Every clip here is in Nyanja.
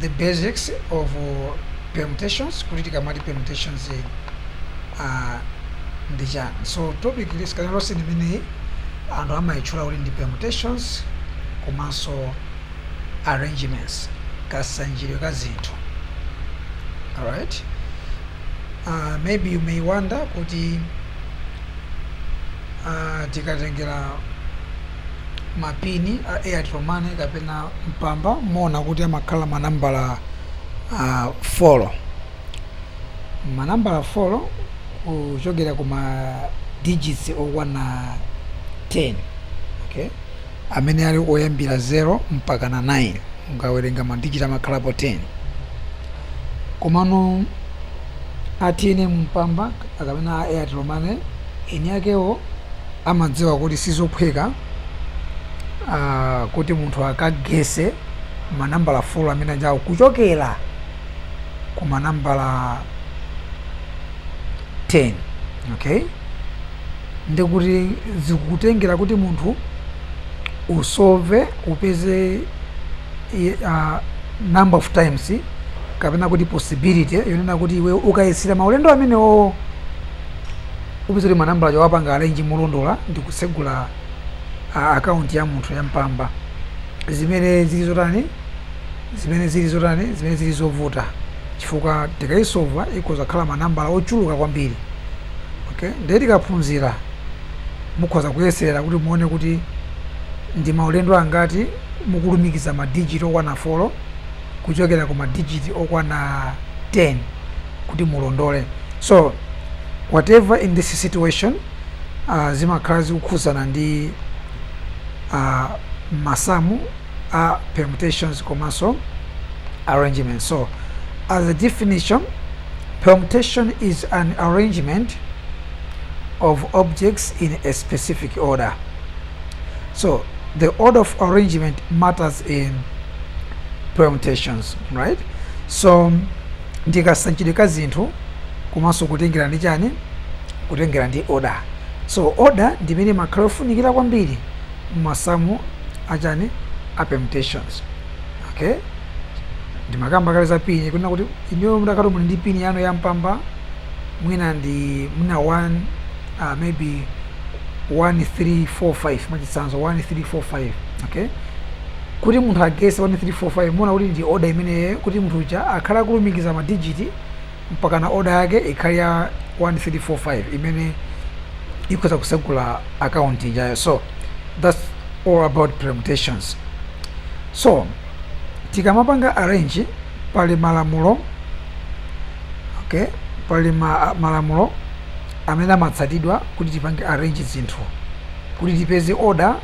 the basics of uh, permutations kuti tikamati permutations eh, uh, ndi chani so topic isikhale yonse imeneyi anthu amayitchula kuti ndi permutations komanso arrangements kasanjidwe ka zinthu alright uh, maybe you may wonder kuti uh, tikatengera ma pin a Airtel Money kapena mpamba mumaona kuti amakhala manambala uh, folo manambala folo kuchokera ku ma digits okwana 10 okay amene ali oyambira 0 mpaka na 9 mukawerenga madigiti amakhalapo 10 Komano a tnm Mpamba kapena a Airtel Money eni akewo amadziwa kuti sizophweka kuti munthu akagese ma nambala folo amene alipowo kuchokera ku ma nambala 10 okay ndikuti zikutengera kuti munthu usove upeze uh, number of times kapena kuti possibility yonena kuti iwe ukayesera maulendo amenewo upeza kuti manambalawo wawapanga alenji molondola ndi kutsegula uh, akaunti ya munthu ya mpamba zimene zili zotani zimene zili zotani zimene zili zovuta chifukwa tikaisova akhoza kukhala manambala ochuluka kwambiri okay ndiye tikaphunzira mukhoza kuyesera kuti muone kuti ndi maulendo angati mukulumikiza madijiti okwana 4 kuchokera ku madijiti okwana 10 kuti mulondole so whatever in this situation uh, zimakhala zikukhudzana ndi uh, masamu a permutations komanso arrangement so as a definition permutation is an arrangement of objects in a specific order so the order of arrangement matters in permutations right so ndikasanjidwe ka zinthu komanso kutengera ndi chani kutengera ndi order so order ndi imene imakhala yofunikira kwambiri masamu achani a permutations okay ndimakamba kale za pin kunena kuti inuyo mutakhala muli ndi pin yanu ya mpamba mwina ndi mwina 1 uh, maybe 1345 mwachitsanzo 1345 okay kuti munthu agese 1345 muona kuti ndi order imeneyo kuti munthu uja akhale akulumikiza madigiti mpakana order yake ikhale ya 1345 imene ikhoza kusegula account ijayo so that's all about permutations so tikamapanga arrange pali malamulo okay pali ma, malamulo amene amatsatidwa kuti tipange arrange zinthu kuti tipeze order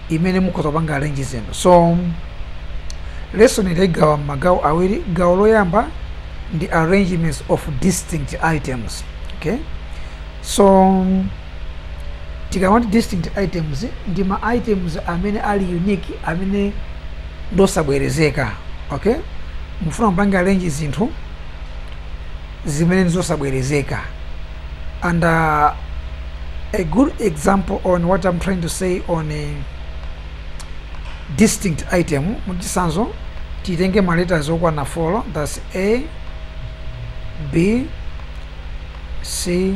imene mukhoza kupanga arrange zinthu so lesson yi taigawa m'magawo awiri gawo loyamba ndi arrangements of distinct items okay so tikamati distinct items ndi ma items amene ali unique amene ndosabwerezeka okay mufuna mpange arrange zinthu zimene nzosabwerezeka and uh, a good example on what I'm trying to say on a distinct item muchisanzo titenge ma letters okwana 4 that's a b c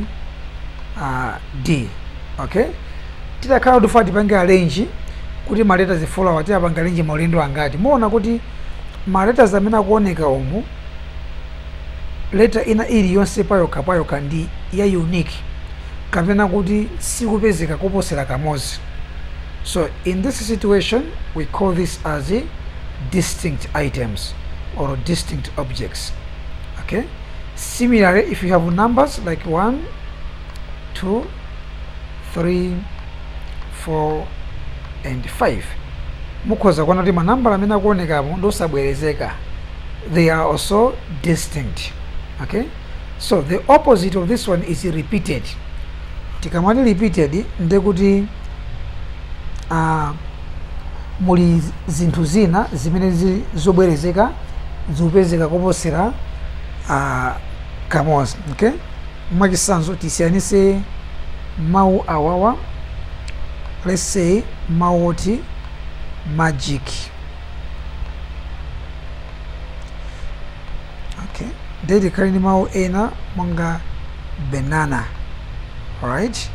uh, d okay titakhala kuti tikufuna tipange arrange kuti ma letters 4 awa tiapange arrange maulendo angati muona kuti ma letters amene akuoneka umu Letter ina iliyonse payokha payokha ndi ya unique kapena kuti sikupezeka koposera kamodzi so in this situation we call this as distinct items or distinct objects okay similarly if you have numbers like 1 2 3 4 and 5 mukhoza kuona kuti manambala amene akuonekamo ndosabwerezeka they are also distinct okay so the opposite of this one is repeated tikamati repeated ndekuti uh, muli zinthu zina zimene zili zobwerezeka zikupezeka koposera uh, kamodzi okay mwachisanzo tisiyanise mawu awawa let's say mawu oti magic okay ndiye tikhale ndi mawu ena monga banana alright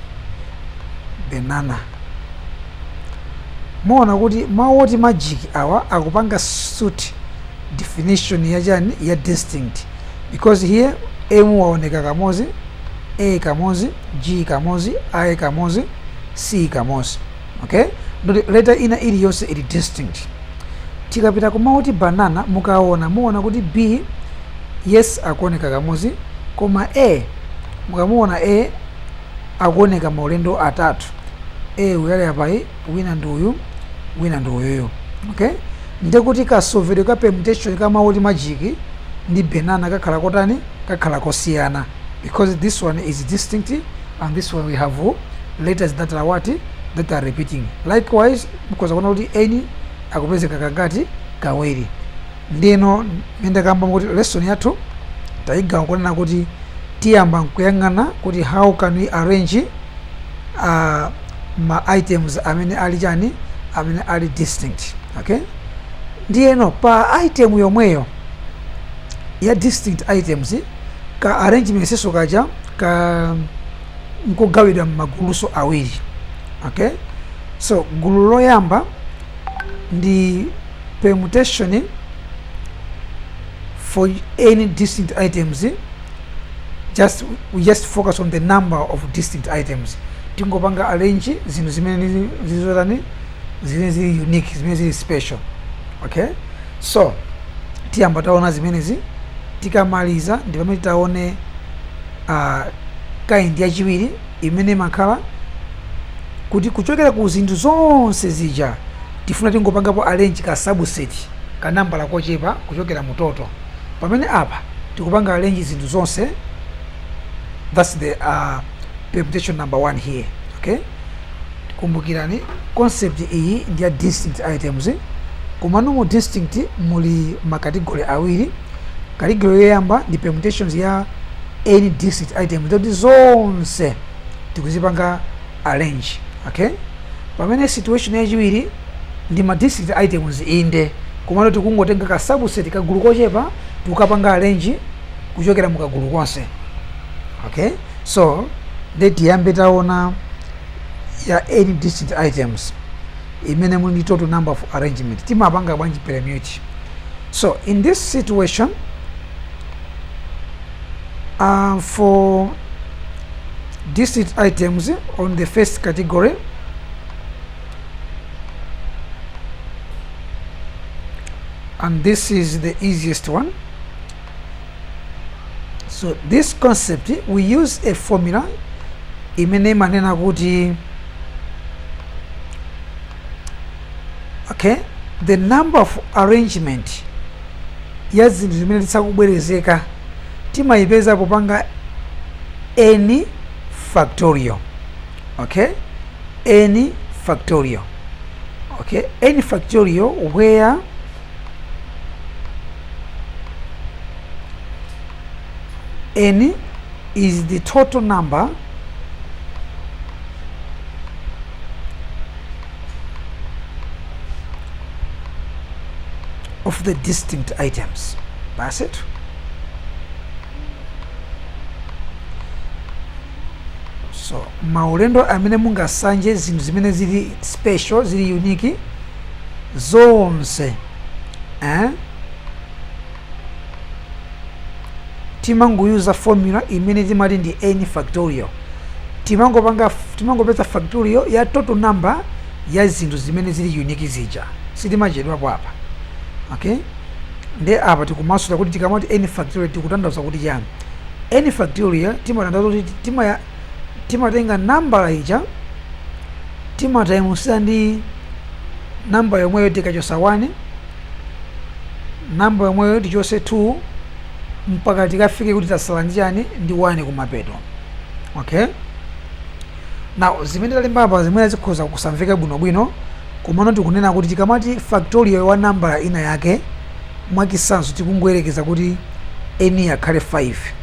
banana muona kuti mawu oti magic awa akupanga suit definition ya chani ya distinct because here m waoneka kamozi a kamozi g kamozi i kamozi c kamozi okay nduti letter ina iliyonse ili distinct tikapita ku mawu oti banana mukaona muona kuti b yes akuoneka kamodzi koma a mukamuona a akuoneka maulendo atatu a uyu ali apayu wina ndi uyu wina ndi uyuyu okay nde kuti kasovedwe ka permutation ka mawu oti majiki ndi banana kakhala kotani kakhala kosiyana because this one is distinct and this one we have letters that are what that are repeating likewise because akuona kuti n akupezeka kangati kawiri nde ndimati ndikambe kuti lesson yathu tayigawa kunena kuti tiyamba nkuyang'ana kuti how can we arrange uh, ma items amene ali chani amene ali distinct okay ndiyeno pa item yomweyo ya distinct items ka arrangementsinso kaja ka nkogawidwa m'magulunso awiri okay so gulu loyamba ndi permutation for n distinct items just we just focus on the number of distinct items tingopanga arrange zinthu zimene zizotani zimene zili unique zimene zili special okay so tiyamba taona zimenezi tikamaliza ndi pamene titaone uh, kaindi yachiwiri imene imakhala kuti kuchokera ku zinthu zonse zija tifuna tingopangapo arrange ka subset ka nambala kochepa kuchokera mu toto pamene apa tikupanga arrange zinthu zonse that's the uh, permutation number one here okay kumbukirani concept iyi ndi ya distinct items komano mu distinct muli makategori awiri kategori yoyamba ndi permutations ya n distinct items zoti zonse tikuzipanga arrange okay pamene situation yachiwiri ndi ma distinct items inde komano tikungotenga ka subset kagulu kochepa tikukapanga arrange kuchokera mu kagulu konse okay so nde tiyambe taona ya n distinct items imene ili ndi total number of arrangement timapanga bwanji permute so in this situation uh, for distinct items on the first category and this is the easiest one so this concept we use a formula imene imanena kuti okay the number of arrangement ya zinthu zimene sizikubwerezeka timayipeza popanga n factorial okay n factorial okay n factorial where n is the total number of the distinct items basi so maulendo amene mungasanje zinthu zimene zili special zili unique zonse eh? timangoyuza formula imene timati ndi n factorial timangopanga timangopeza factorial ya total number ya zinthu zimene zili unique zija sitimachedwapo apa okay nde apa tikumasulira kuti tikamati n factorial tikutanthauza kuti chani n factorial timatanthauza kuti timaya timatenga nambala ija timataimusira ndi nambala yomweyo tikachosa 1 nambala yomweyo tichose 2 mpaka tikafike kuti tasala ndi chani ndi 1 kumapeto okay now zimene talemba apa zimene zikhoza kusamveka bwinobwino komano tikunena kuti tikamati factorial wa nambala ina yake mwachitsanzo tikungoyerekeza kuti n akhale 5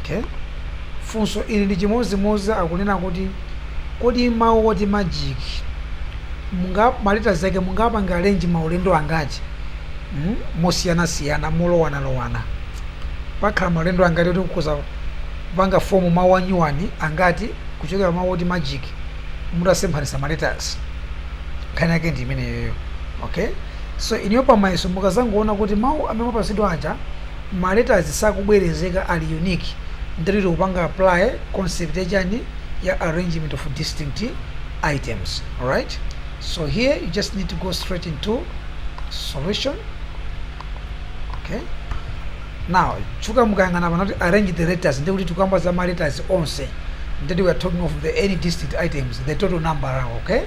Okay? Funso ili ndi chimodzimodzi akunena kuti kodi mawu oti magic munga ma letters ake mungapange arrange maulendo angati mm? mosiyanasiyana molowanalowana pakhala maulendo angati oti kuza kupanga fomu mawu anyuwani angati kuchokera mawu oti magic mutasemphanisa ma letters nkhani yake ndi imeneyoyo okay so inuyo pamayeso mukazangoona kuti mawu amene mwapasidwa aja ma letters sakubwerezeka ali unique ndekuti tikupanga apply concept ya chani ya arrangement of distinct items alright so here you just need to go straight into solution okay now chifukwa mukayang'ana pano akuti arrange the letters ndekuti tikukamba za ma letters onse ndekuti we are talking of the n distinct items the total number awo okay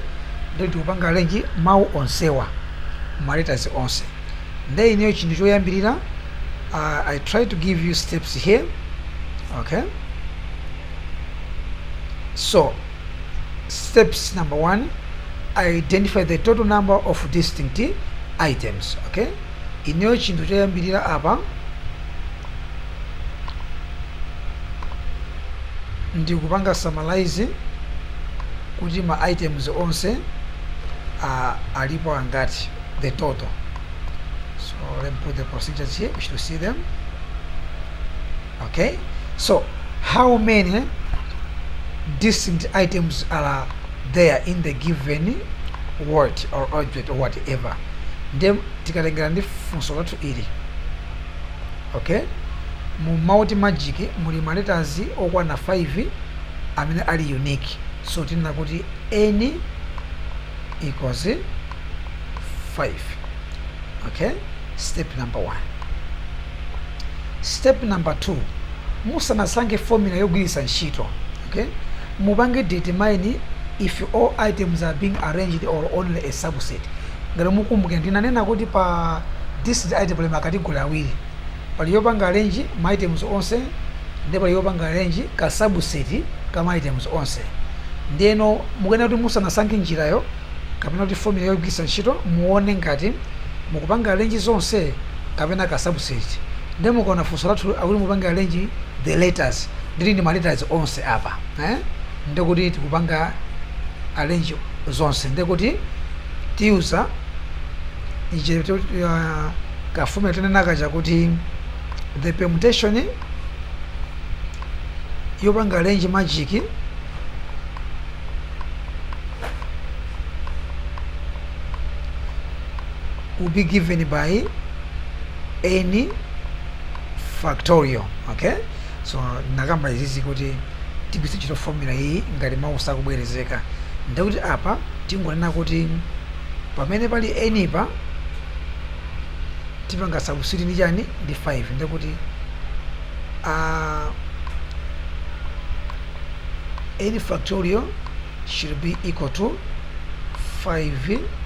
ndekuti tikupanga arrange mawu onsewa ma letters onse nde ineyo chinthu choyambirira uh, i try to give you steps here okay so steps number one identify the total number of distinct items okay ineyo chinthu choyambirira apa ndikupanga summarize kuti ma items onse uh, alipo angati the total. So let me put the procedures here. We should see them. Okay. So how many distinct items are there in the given word or object or whatever? Then tikatengera ndi funso lathu ili. Okay. Mu multi magic muli ma letters okwana 5 amene ali unique. So tinena kuti any equals 5 okay step number 1 step number 2 musanasankhe formula yogwiritsa ntchito okay mupange determine if all items are being arranged or only a subset ngati mukumbukira ndinanena kuti pa distinct item pali makategori awiri Pali yopanga arrange ma items onse nde pali yopanga arrange ka subset ka ma items onse. Ndiyeno mukuyenera kuti musanasankhe njirayo kapena kuti formula yogwiritsa ntchito muone ngati mukupanga arrange zonse kapena ka subset. Nde mukaona funso lathu akuti mupange arrange the letters ndeti ndi ma letters onse apa eh ndekuti tikupanga arrange zonse ndekuti tiyuza ichi kafume tinenaka chakuti the permutation yopanga arrange magic will be given by n factorial okay So, ndinakamba izizi kuti tigwiritse ntchito formula iyi ngati mau sakubwerezeka. Ndiye kuti apa tingonena kuti pamene pali n pa tipanga substitute ndi chani ndi 5 ndiye kuti a n factorial should be equal to 5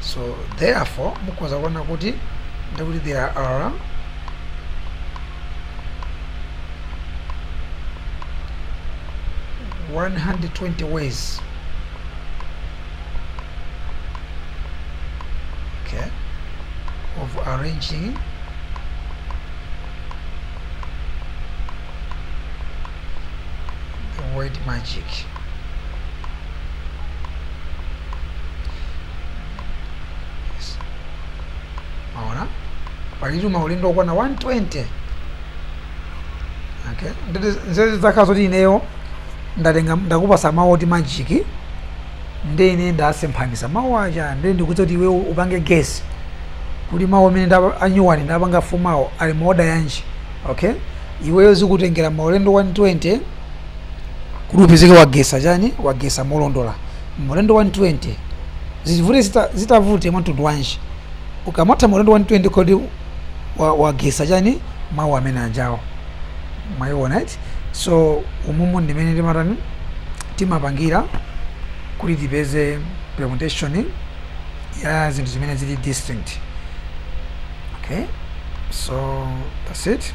so therefore mukhoza kuona kuti ndikuti there are one hundred twenty ways okay of arranging the word magic mwaona palitu maulendo okwana 120 okay ndeti nzeru zakhala zoti ineyo ndatenga ndakupasa mawu oti magic ndi ine ndasemphanisa mawu aja nde ndikuuza kuti iweyo upange guess kuti mawu amene ndapa- anyuwani ndapanga fumawo ali mu order yanji okay iweyo zikutengera maulendo 120 kuti upezeke wagesa chani wagesa molondola maulendo 120 zivute zita- zitavute mwamtundu wanji ukamatha maulendo 120 kodi wa- wagesa chani mawu amene ajawo mwayiona eti so umumu ndimene timatani timapangira kuti tipeze permutation ya zinthu zimene zili distinct okay so that's it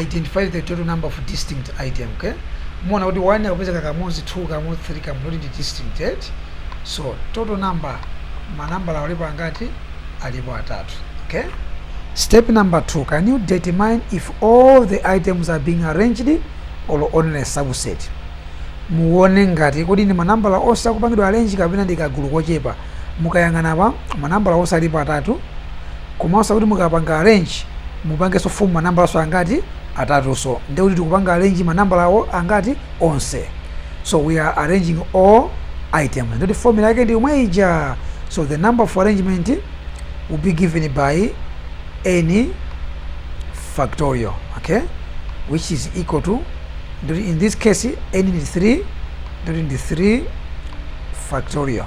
identify the total number of distinct items okay muona kuti 1 akupezeka kamodzi 2 kamodzi 3 kamodzi kuti ndi distinct eti so total number manambala alipo angati alipo atatu okay step number 2 can you determine if all the items are being arranged or only a subset muone ngati kodi ndi manambala onse akupangidwa arrange kapena ndi kagulu kochepa mukayang'ana pa manambala onse alipo atatu Komanso kuti mukapanga arrange mupanganso form manambalaso angati? atatuso ndiye kuti tikupanga arrange manambalawo angati? onse so we are arranging all items ndiye kuti formula yake ndi yomwe ija so the number of arrangement will be given by n factorial okay which is equal to ndiye kuti in this case n ndi 3 ndiye kuti ndi 3 factorial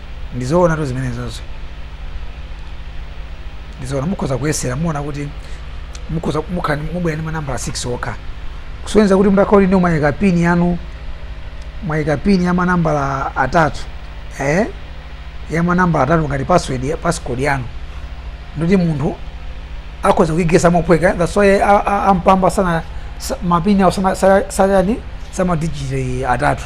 ndi zoonatu zimenezozo ndi zoona mukhoza kuyesera muona kuti mukhoza mukha- mubwera ndi manambala 6 okha kusonyeza kuti mutakhala kuti ndiwo mwayika pini yanu mwayika pini ya manambala atatu eh? ya manambala atatu ngati password ya- passcode yanu ndiye kuti munthu akhoza kuigesa mophweka that's why a- a- a Mpamba sana sa- mapini awo sana- sa- sayani samadigiti atatu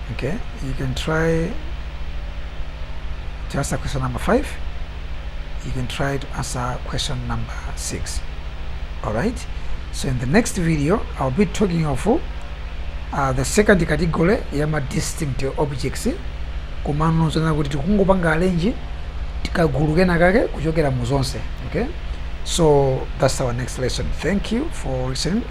okay you can try to answer question number five you can try to answer question number six all right so in the next video i'll be talking of uh, the second category yama distinct objects komano zona kuti tikungopanga arrange tikagulu kena kake kuchokera mu zonse okay so that's our next lesson thank you for listening